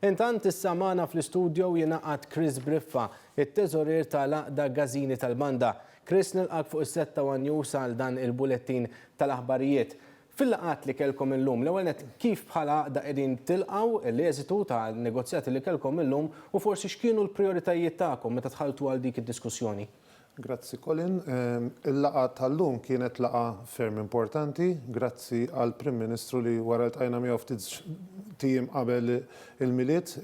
Intant issa magħna fl-istudio jingħaqad Chris Briffa, it-Teżorier ta' l-Għaqda Gażini tal-Banda. Chris nilqgħek fuq is-sett ta' one News għal dan il-bulettin ta' l-aħbarijiet. Fil-laqgħat li kellkom illum, l-ewwel nett kif bħala Għaqda qegħdin tilqgħu l-eżitu ta' negozjati li kellkom illum u forsi x'kienu l-prijoritajiet tagħkom meta dħaltu għal dik id-diskussjoni? Grazzi Colin. Il-laqgħa tal-lum kienet laqgħa ferm importanti. Grazzi għall-Prim Ministru li wara ltqajna miegħu ftit tijiem qabel il-Milied,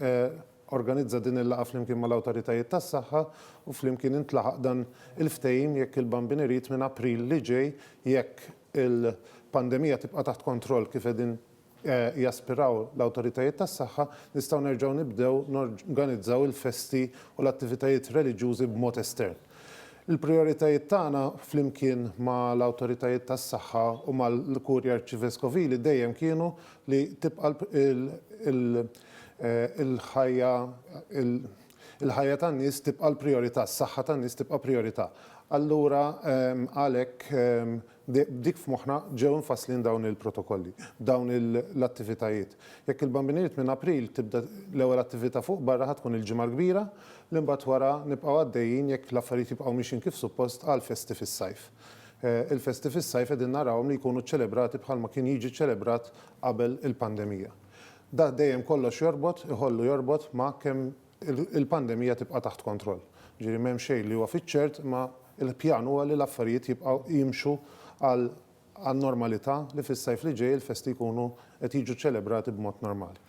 organizza din il-laqgħa flimkien mal-Awtoritajiet tas-Saħħa u flimkien intlaħaq dan il-ftehim jekk il-Bambin irid minn April li ġej jekk il-pandemija tibqa' taħt kontroll kif qegħdin jaspiraw l-awtoritajiet tas-saħħa, nistgħu nerġgħu nibdew norganizzaw il-festi u l-attivitajiet reliġjużi b'mod estern. Il-prijoritajiet tagħna, flimkien ma' l-awtoritajiet tas-saħħa u mal-Kurja Arċiveskovili, dejjem kienu li tibqa' l-ħajja il-ħajja tan-nies tibqa' l-prijorità, s-saħħa tan-nies tibqa' prijorità. Allura, għalhekk, B'dik f'moħħna ġew imfasslin dawn il-protokolli, dawn l-attivitajiet. Jekk il-Bambini Ried minn April tibda l-ewwel attività fuq barra ħa tkun il-Ġimgħa l-Kbira li mbagħad wara nibqgħu għaddejjin jekk l-affarijiet jibqgħu mixjin kif suppost għall-festi fis-sajf. Il-festi fis-sajf qegħdin narawhom li jkunu ċċelebrati bħalma kien jiġi ċċelebrat qabel il-pandemija. Dak dejjem kollox jorbot, iħollu jorbot ma' kemm il-pandemija tibqa' taħt kontroll. Jiġifieri m'hemm xejn li huwa fiċ-ċert imma l-pjan huwa li l-affarijiet jibqgħu jimxu għan-normalità li fis-sajf li ġej il-festi jkunu qed jiġu ċċelebrati b'mod normali.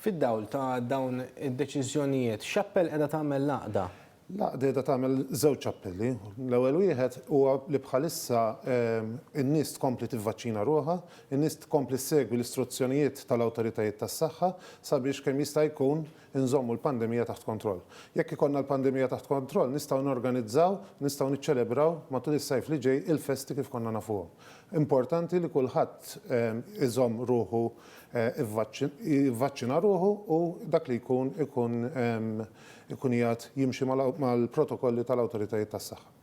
Fid-dawl ta' dawn id-deċiżjonijiet, x'appell qiegħda tagħmel l-Għaqda? L-Għaqda qiegħda tagħmel żewġ appelli. L-ewwel wieħed huwa li bħalissa n-nies tkompli tivvaċċina ruħha, in-nies tkompli ssegwi l-istruzzjonijiet tal-awtoritajiet tas-saħħa sabiex kemm jista' jkun inżommu l-pandemija taħt kontroll. Jekk ikollna l-pandemija taħt kontroll nistgħu norganizzaw, nistgħu niċċelebraw matul is-sajf li ġej il-festi kif konna nafuhom. Importanti li kulħadd iżomm ruħu jivvaċċina ruħu u dak li jkun ikun ikun qiegħed jimxi mal-protokolli tal-awtoritajiet tas-saħħa.